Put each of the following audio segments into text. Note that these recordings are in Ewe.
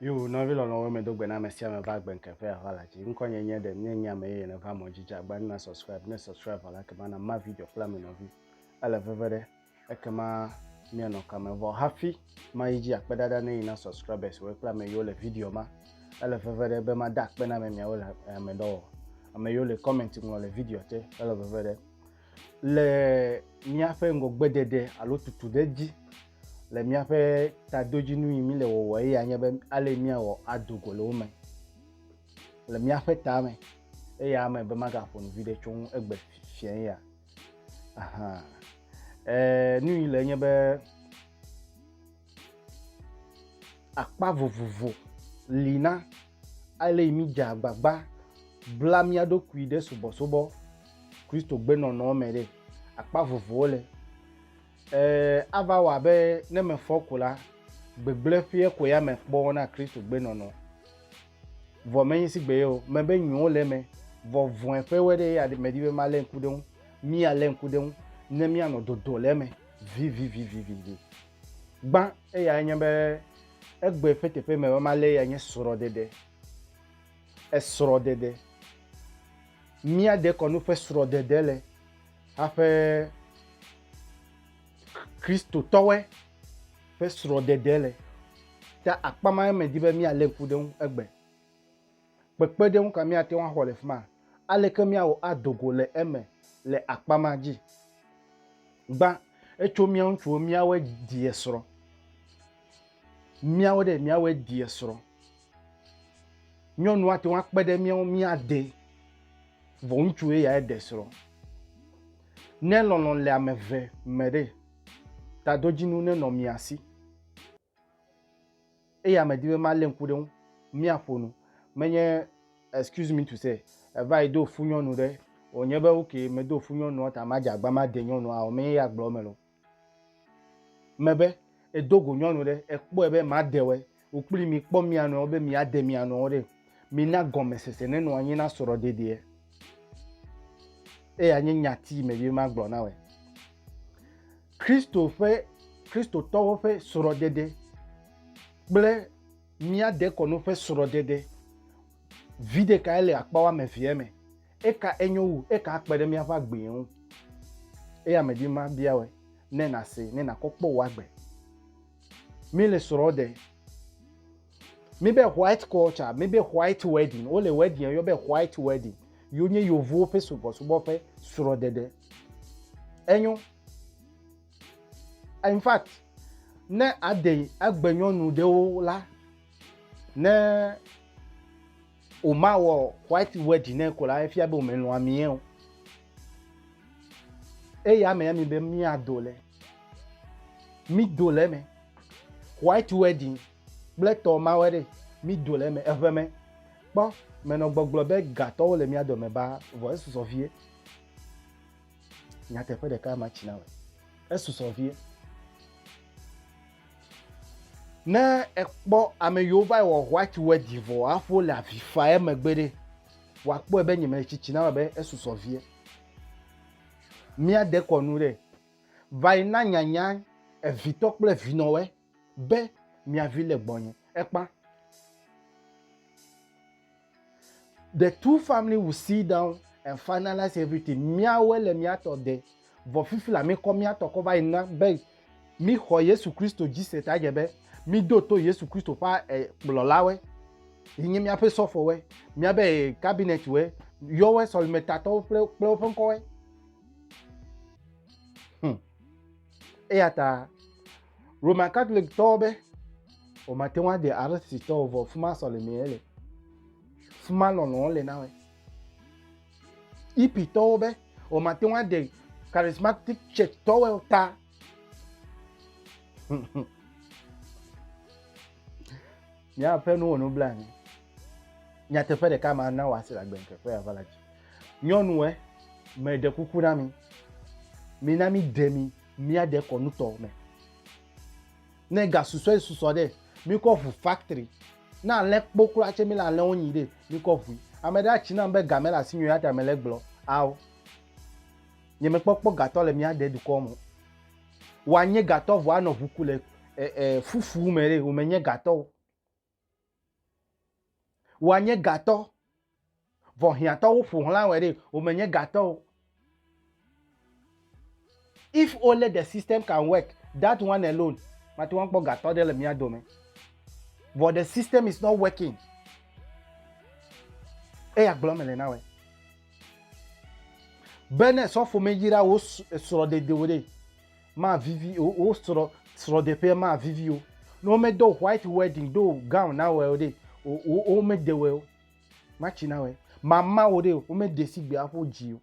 Yo, nɔvi lɔlɔ̃wo me do gbe na ame sia ame va gbe ŋkeƒe aʋa la dzi. Ŋkɔ nye nye ɖe nye nye ame yeye neva mɔ dzi dza agba na subscribe ne subscribe la ke bana ma video kple ame nɔvi. Ele veve ɖe. ekema mianɔ kame vɔ hafi mayi dzi akpe ɖaɖa ne yi na subscribers wo kple ame yiwo le video ma ele veve ɖe be mada akpe na ame miawo le eh, ame dɔwɔ ame yiwo le comment ŋlɔ le video te ele veve ɖe le míaƒe ŋgɔgbeɖeɖe alo tutu ɖe dzi le míaƒe tadodzinu yi mi le wɔwɔ eye anye be ale míawɔ ado go le wo me le míaƒe tame eye ame be magaƒo nu vi ɖe tso ŋu egbe fiẽ ya Aha. Eh, nu yi le nye be akpa vovovo li na ale yi mi dze agbagba bla mía ɖokui ɖe subɔsubɔ Kristo gbenɔnɔ me ɖe. Akpa vovowo le. Eh, ava wɔ abe ne mefɔ ko la, gbegblẽ ƒe ko ya me kpɔ na Kristo gbenɔnɔ. Vɔ menyi sigbe ye o, mebe nyuiwo le eme, vɔ vɔ̃e ƒe wɔe ɖe ye aɖe medi be malé ŋku ɖe eŋu. Míalé ŋku ɖe eŋu ne míanɔ dodo le eme vivivivivi. Gbã eyae nye be egbe ƒe teƒe me be malé eyae nye srɔ̃ɖeɖe. Esrɔ̃ɖeɖe. Míade kɔnu ƒe srɔ̃ɖeɖe le haƒe Kristotɔwoe. ƒe srɔ̃ɖeɖe le. Ta akpa mae medi be míalé ŋku ɖe eŋu egbe. Kpekpeɖeŋu ka míate ŋu axɔ le fi ma? Aleke míawɔ ado go le eme le akpa ma dzi? Gbã, etso mía ŋutsuwo míawɔe ɖi esrɔ̃. Míawɔe ɖe míawɔe ɖi esrɔ̃. Nyɔnu ate ŋu akpe ɖe mía ŋu míade, vɔ ŋutsu ye ya ɖe srɔ̃. Ne lɔlɔ̃ le ame eve me ɖe, Tadodzinu nenɔ mia si. Eya medi be malé ŋku ɖe eŋu. Míaƒo nu. Menye excuse me to say eva yi do fu nyɔnu ɖe wònye be okay medo fu nyɔnua ta madze agba made nyɔnua o. Menye ya gblɔ eme le o. Mebe edo go nyɔnu ɖe ekpɔe be madewɔe Wò kpli mi kpɔ mia nɔewo be miade mia nɔewo ɖe. Mina gɔmesese nenɔ anyi na srɔ̃ɖeɖeɛ. Eya nye nyati me be magblɔ na wòe. Kristo ƒe Kristotɔwo ƒe srɔ̃ɖeɖe kple mía dekɔnu ƒe srɔ̃ɖeɖe vi ɖekae le akpa woame evea me. Eka enyo wu, eka akpe ɖe míaƒe agbee ŋu. Eya medi mabia wòe ne nàsee, ne nàkɔ kpɔ wò agbe. mi le srɔ de mi be white culture mi be white wedding wo le wedding yɔ be white wedding yo nye yovuwo ƒe subɔsubɔ ƒe srɔdede enyo in fact ne ade agbenyɔnu ɖewo la ne wòmawɔ white wedding ne ko la efia be wòmelɔ̃ amie o eya me ami be míado le mído le eme white wedding kple tɔ mawɔ ɖe mído le eme eʋe me kpɔ menɔ gbɔgblɔ be gatɔwo le mía dome ba vɔ esusɔ vie nyateƒe ɖeka ma tsi na me esusɔ vie ne ekpɔ ame yiwo va wɔ white wedding vɔ hafi wole avi fa emegbe ɖe wòakpɔe be nyemele tsitsi na me be esusɔ vie míade kɔnu ɖe va yi na nyanya evitɔ kple vinɔwɔe be mia vi le gbɔnye. Ekpa. The two family will sit down and finalize everything. Miawoe le miatɔ de. Vɔ fifi la mi kɔ miatɔ kɔ va yi na be mi xɔ Yesu Kristo dzi se ta dze be mi do to Yesu Kristo ƒe eh, kplɔlawe. Yi nye miaƒe sɔfɔwe, miabe eh, cabinet we, yɔwe sɔlimetatɔwo kple kple woƒe ŋkɔwe. Hmm. Eya ta Roman Catholic-tɔwo be womate ŋu aɖe Aristotitɔwo vɔ fu ma sɔlemee le. Fu ma lɔlɔ̃ le na wɔ. Hipitɔwo be womate ŋu aɖe Charismatic Church-tɔwo ta. Míaƒe nuwo nu bla anyi. Nyateƒe ɖeka ma na wòase le agbenkekpe ya va la dzi. Nyɔnue, meɖe kuku na mi. Mina mi de mi míaɖe kɔnutɔ me. Ne gasusɔe susɔ ɖe, míkɔ ʋu factory. Ne alẽ kpo kura tse míle alẽwo nyi ɖe, míkɔ ʋui. Ame ɖe atsi nam be ga mele asi nyuie ata mele gblɔ ao. Nye mekpɔkpɔ gatɔ le míaɖe dukɔ me. Woanye gatɔ vɔ anɔ ʋu ku le e, e, fufu me ɖe, wòmenye gatɔ o. Wòa nye gatɔ, vɔ hiãtɔwo ƒo xlã wòe ɖe, wòmenye gatɔ o. If only the system can work, that one alone, mate ŋu akpɔ gatɔ ɖe le mía dome. Vɔ the system is not working. Eya gblɔ mele na wòe. Be ne sɔfo meyra wò srɔ̃dedewo ɖe, mavivi o, wò srɔ̃ srɔ̃ɖeƒea mavivi o. Ne womedo white wedding do gown na wòe o ɖe, wò wò womede wòe o. Matsi na wòe. Mama wò ɖe, womede sigbe aƒe wò dzi o.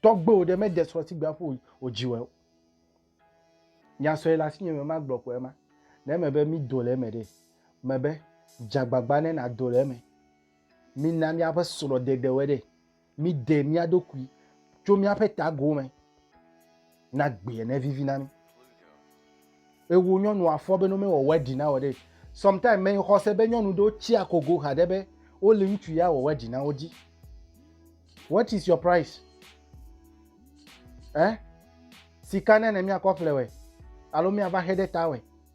Tɔgbuiwò ɖe mede srɔ̃ sigbe aƒe wò wò dzi wòe o. Nya sue le asinye me magblɔ koe ma. Ne eme be mido le eme ɖe, mebe dze agbagba ne nàdo le eme. Mina míaƒe srɔ̃ɖeɖewɔe ɖe. Míɖe mía ɖokui tso míaƒe tago me na gbea ne vivi na mí. Ewo nyɔnu afɔ be no mewɔ wɛɖi na wɔ ɖe. Sometimes me xɔse be nyɔnu ɖewo tsi akogo xa ɖe be wole ŋutsu ya wɔ wɛɖi na wo dzi. What is your price? Eh? Sika ne ne miakɔ ƒle wɛ alo miava xe ɖe ta wɛ.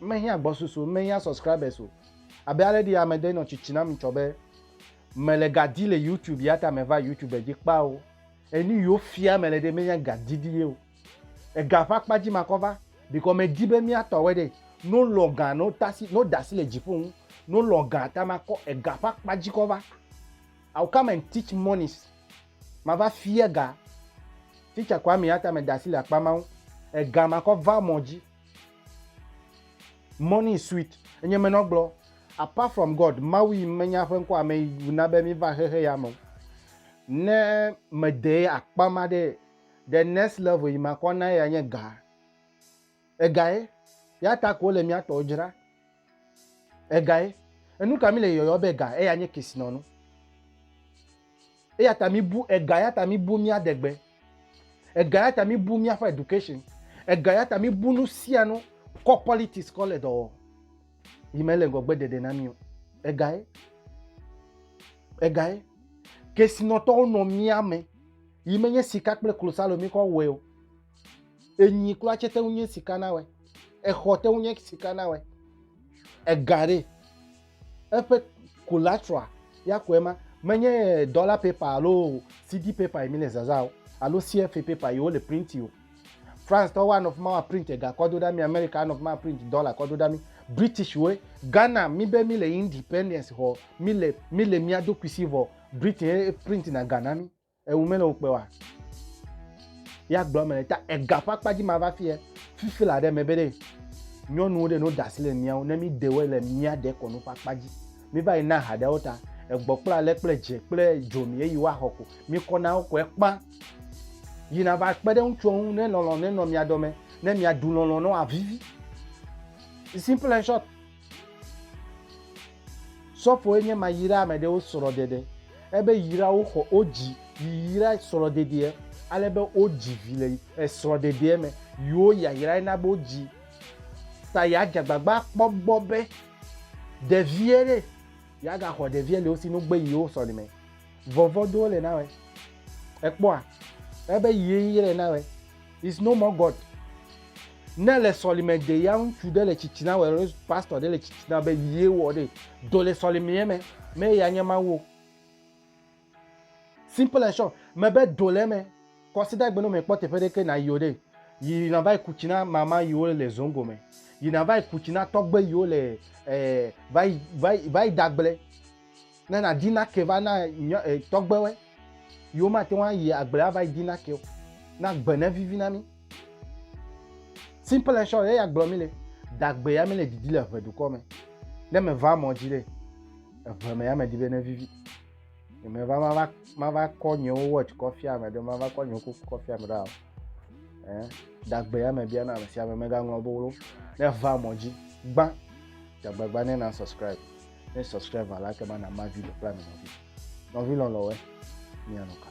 Mehiã gbɔsusu o, mehiã subscribers o, abe ale ɖi ame ɖe nɔ tsitsi nam ŋtsɔ be, mele ga di le YouTube ya ta meva YouTube dzi kpa o. Enu yiwo fia mele ɖe menye ga didi ye o. Ega ƒe akpa dzi makɔ va bikɔ medi be miatɔ wɛ ɖe. No lɔ ga no tasi no dasi le dziƒo ŋu no lɔ ga ta makɔ ega ƒe akpa dzi kɔ va. I will come and teach monies. Mava fia ga. Teacher Kwame ya ta me dasi le akpa ma ŋu. Ega makɔ va mɔ dzi. Morning sweet. Enye menɔ gblɔ. Apart from God, Mawu yi menya ƒe ŋkɔ ame yi na be mi va xexe ya me. Ne me de akpa ma de the next level yi makɔ na ya nye ga. Egae. Ya ta ko le mia tɔ dzra. Egae. Enu ka mi le yɔyɔ be ga eya nye kesinɔnu? Eya ta mi bu ega ya ta mi bu mia degbe. Ega ya ta mi bu mia fa education. Ega ya ta mi bu nu sia nu kɔ politics kɔ le dɔ wɔ. Yi me le ngɔgbe dede na mi o. Egae. Egae. Kesinɔtɔwo nɔ mia me. Yi me nye sika kple klosalo mi kɔ wɔe o. Enyi kura tse te ŋu nye sika na wɛ. Exɔ te ŋu nye sika na wɛ. Ega ɖe eƒe collateral ya kɔe ma menye dɔla paper alo CD paper yi mi le zaza o alo CFA paper yi wo le print o. France tɔwo anɔ fi ma wa print ega kɔ do ɖa mi, America anɔ fi ma print dɔla kɔ do ɖa mi. British wo Ghana mi be mi le independence xɔ mi le mi le mia dokuisi vɔ Britain print na Ghana mi. Ewu mele wo kpe wa. Ya gblɔ me ta ega ƒe akpa dzi ma va fie. Fifi la ɖe me be ɖe nyɔnuwo ɖe no dasi le miawo ne mi dewe le mia de kɔnu ƒe akpa dzi. Mi va yi na ha ɖewo ta. Egbɔ kple ale kple dze kple dzo mi eyi wa xɔ ko. Mi kɔ na wo ko ekpa. Yi na va kpe ɖe ŋutsu ŋu ne lɔlɔ ne nɔ mia dɔ me ne mia du lɔlɔ ne wa vivi. Simple and short. Sɔfoe nye ma yra ame ɖe wo srɔ ɖeɖe, ebe yra wo xɔ wo dzi yi yra srɔ ɖeɖeɛ, ale be wo dzi vi le esrɔ ɖeɖeɛ me yi wo yayrae na be wo dzi ta ya dze agbagba akpɔ gbɔ be ɖeviɛ ɖe ya ga xɔ ɖeviɛ le wo si no gbe yi wo sɔli me. Vɔvɔ do wo le na wɛ. Ekpɔa? Ebe yi yrae na wɛ. is no more god ne le sɔlime de ya ŋutsu ɖe le tsitsina wɔ alo pastor ɖe le tsitsina be yie wɔ ɖe do le sɔlimea me me ya nye mawu simple and short me be do le me kɔsida gbe no me kpɔ teƒe ɖeke na yio ɖe yi na va ku tsina mama yiwo le zongo me yi na va ku tsina tɔgbe yiwo le eh, va yi dagble Ne nàdi nake va na tɔgbewe yiwo mate ŋu ayi agble ava yi di nake o, na gbe ne vivi na mí. Simple short, eya gblɔ mí le dagbe ya mí le didi le ʋe dukɔ me. Ne meva mɔ dzi le eʋe me ya me di be ne vivi. Ne meva mava mava kɔ nyewo watch kɔ fia ame ɖe, mava kɔ nyewo kuku kɔ fia ame ɖe o. Eh, dagbe ya me bia na ame sia ame megaŋlɔ be wo. Ne va mɔ dzi, gbã, dagbe gbã ne na subscribe. ne subscribe la ke mana ma video kple ame nɔvi nɔvi lɔlɔwɛ mianɔ ka